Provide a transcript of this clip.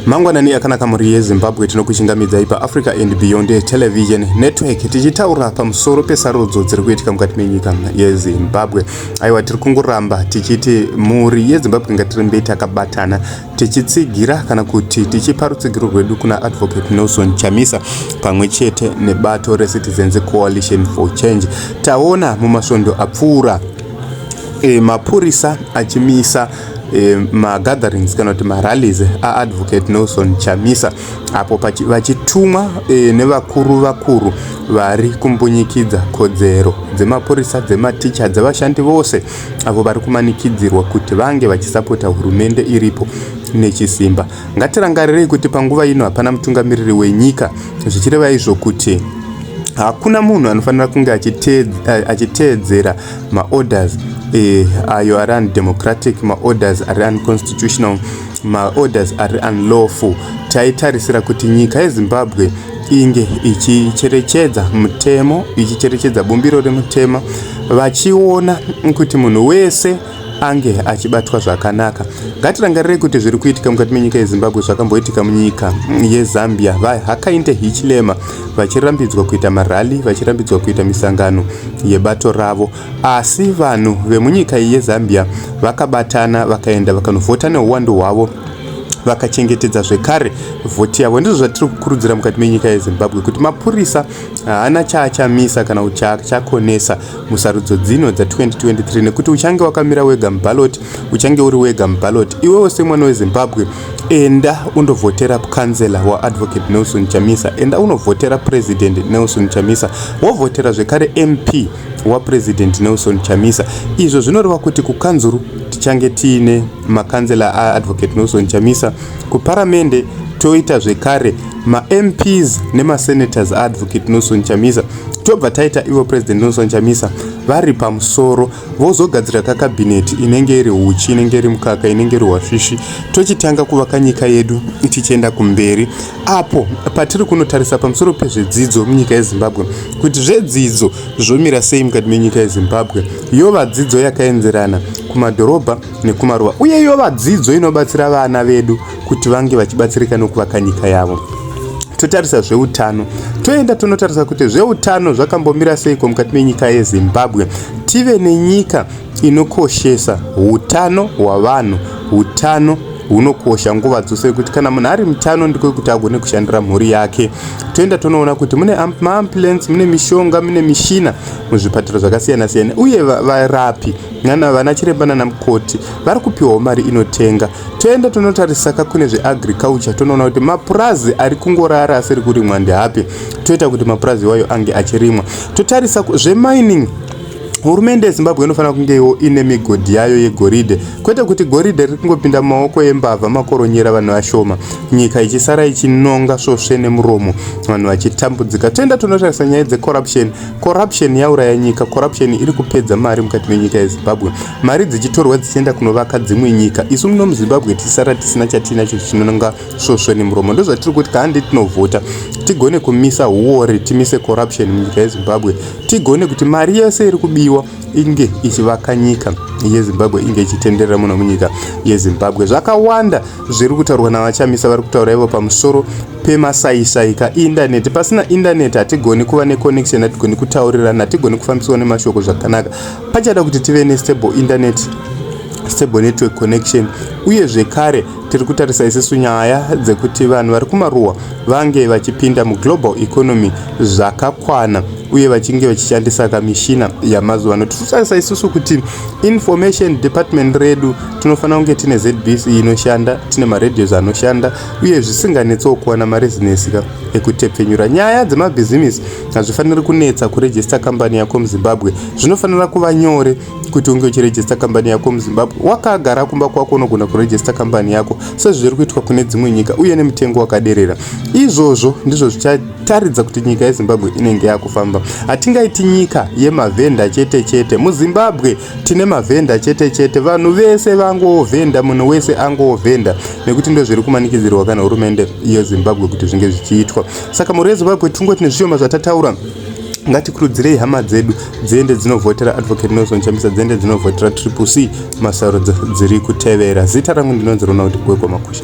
mangwanani akanaka mhuri yezimbabwe tinokuchingamidzai paafrica and beyond television network tichitaura pamusoro pesarudzo dziri kuitika mukati menyika yezimbabwe aiwa tiri kungoramba tichiti mhuri yezimbabwe ngatirembei takabatana tichitsigira kana kuti tichipa rutsigiro rwedu kuna advocate nelson chamisa pamwe chete nebato recitizens coalition for change taona mumasvondo apfuura e, mapurisa achimisa Eh, magatherings kana kuti marallies aadvocate nelson chamisa apo vachitumwa eh, nevakuru vakuru vari kumbunyikidza kodzero dzemapurisa dzematicha dzevashandi vose avo vari kumanikidzirwa kuti vange vachisapota hurumende iripo nechisimba ngatirangarirei kuti panguva ino hapana mutungamiriri wenyika zvichireva izvo kuti hakuna munhu anofanira kunge achiteedzera maorders eh, ayo ari undemocratic maorders ari unconstitutional maorders ari unlawful taitarisira kuti nyika yezimbabwe inge ichicherechedza mutemo ichicherechedza bumbiro remutema vachiona kuti munhu wese ange achibatwa zvakanaka ngatirangarirei kuti zviri kuitika mukati menyika yezimbabwe zvakamboitika munyika yezambia vahakainde hichilema vachirambidzwa kuita marally vachirambidzwa kuita misangano yebato ravo asi vanhu vemunyika iyi yezambia vakabatana vakaenda vakanovhota neuwandu hwavo vakachengetedza zvekare vhoti yavo ndizvo zvatiri kukurudzira mukati menyika yezimbabwe kuti mapurisa haana chaachamisa kana kuti chaachakonesa musarudzo dzino dza 2023 nekuti uchange wakamira wega mubaloti uchange uri wega mubaloti iwewo semwana wezimbabwe enda undovhotera kansela waadvocate nelson chamisa enda unovhotera president nelson chamisa wovhotera zvekare mp wapresident nelson chamisa izvo zvinoreva kuti kukanzuru tichange tiine makansela aadvocate nelson chamisa kuparamende toita zvekare mamps nemasenators aadvocate nelson chamisa tobva taita ivo president nelson chamisa vari pamusoro vozogadzira kakabhineti inenge iri uchi inenge iri mukaka inenge iri hwasvishi tochitanga kuvaka nyika yedu tichienda kumberi apo patiri kunotarisa pamusoro pezvedzidzo munyika yezimbabwe kuti zvedzidzo zvomira sei mukati menyika yezimbabwe yova dzidzo yakaenzerana kumadhorobha nekumaruwa uye yova dzidzo inobatsira vana vedu kuti vange vachibatsirika nokuvaka nyika yavo totarisa zveutano toenda tonotarisa kuti zveutano zvakambomira seiko mukati menyika yezimbabwe tive nenyika inokoshesa utano hwavanhu utano hunokosha nguva dzose kuti kana munhu ari mutano ndiko kuti agone kushandira mhuri yake toenda tonoona kuti mune maambulensi mune mishonga mune mishina muzvipatara zvakasiyana siyana uye varapi nana vana chiremba nana mukoti vari kupiwawo mari inotenga toenda tonotarisaka kune zveagriculture tonoona kuti mapurazi ari kungorara asiri kurimwa ndeapi toita kuti mapurazi iwayo ange achirimwa totarisa zvemining hurumende yezimbabwe inofanira kungeiwo ine migodhi yayo yegoridhe kwete kuti goridhe riri kungopinda mumaoko embavha makoronyera vanhu vashoma nyika ichisara ichinonga svosve nemuromo vanhu vachitambudzika toenda tonotarisa nyaya dzecorruption Corruption yauraya nyika. Corruption iri kupedza mari mukati menyika yeZimbabwe. Mari dzichitorwa dzichienda kunovaka dzimwe nyika. Isu muno muZimbabwe tisara tisina chatinacho chinonanga svosvo nemuromo. Ndozvatiri kuti kahande tinovhota tigone kumisa huwori, timise corruption munyika yeZimbabwe. Tigone kuti mari yese iri kubiwa inge ichivaka nyika yeZimbabwe inge ichitenderera muno munyika yeZimbabwe. Zvakawanda zviri kutaurwa navachamisa vari kutaura ivo pamusoro pemasaisai kaindaneti pasina indaneti hatigoni kuva neconnection hatigoni kutaurirana hatigoni kufambiswa nemashoko zvakanaka pachada kuti tive nestable indaneti stable network connection uye zvekare tiri kutarisa isisu nyaya dzekuti vanhu vari kumaruwa vange vachipinda muglobal economy zvakakwana uye vachinge vachishandisa kamishina yamazuva ano tiri kutarisa isisu kuti information department redu tinofanira kunge tine zbc inoshanda tine maradios anoshanda uye zvisinganetsewo kuwana marezinesi ka ekutepfenyura nyaya dzemabhizimisi hazvifaniri kunetsa kurejista kambani yako muzimbabwe zvinofanira kuva nyore kuti unge uchirejista kambani yako muzimbabwe wakagara kumba kwako unogona kurejista kambani yako sezviri kuitwa kune dzimwe nyika uye nemutengo wakaderera izvozvo ndizvo zvichataridza kuti nyika yezimbabwe inenge yakufamba hatingaiti nyika yemavhenda chete chete muzimbabwe tine mavhenda chete chete vanhu vese vangovhenda munhu wese angovhenda nekuti ndo zviri kumanikidzirwa kana hurumende yezimbabwe kuti zvinge zvichiitwa saka mhuri yezimbabwe tingoti nezvishoma zvatataura ngatikurudzirei hama dzedu dziende dzinovhotera advocate nelson chambisa dziende dzinovhotera triple c masarudzo dziri kutevera zita rangu ndinonzi ronald gwegwa makusha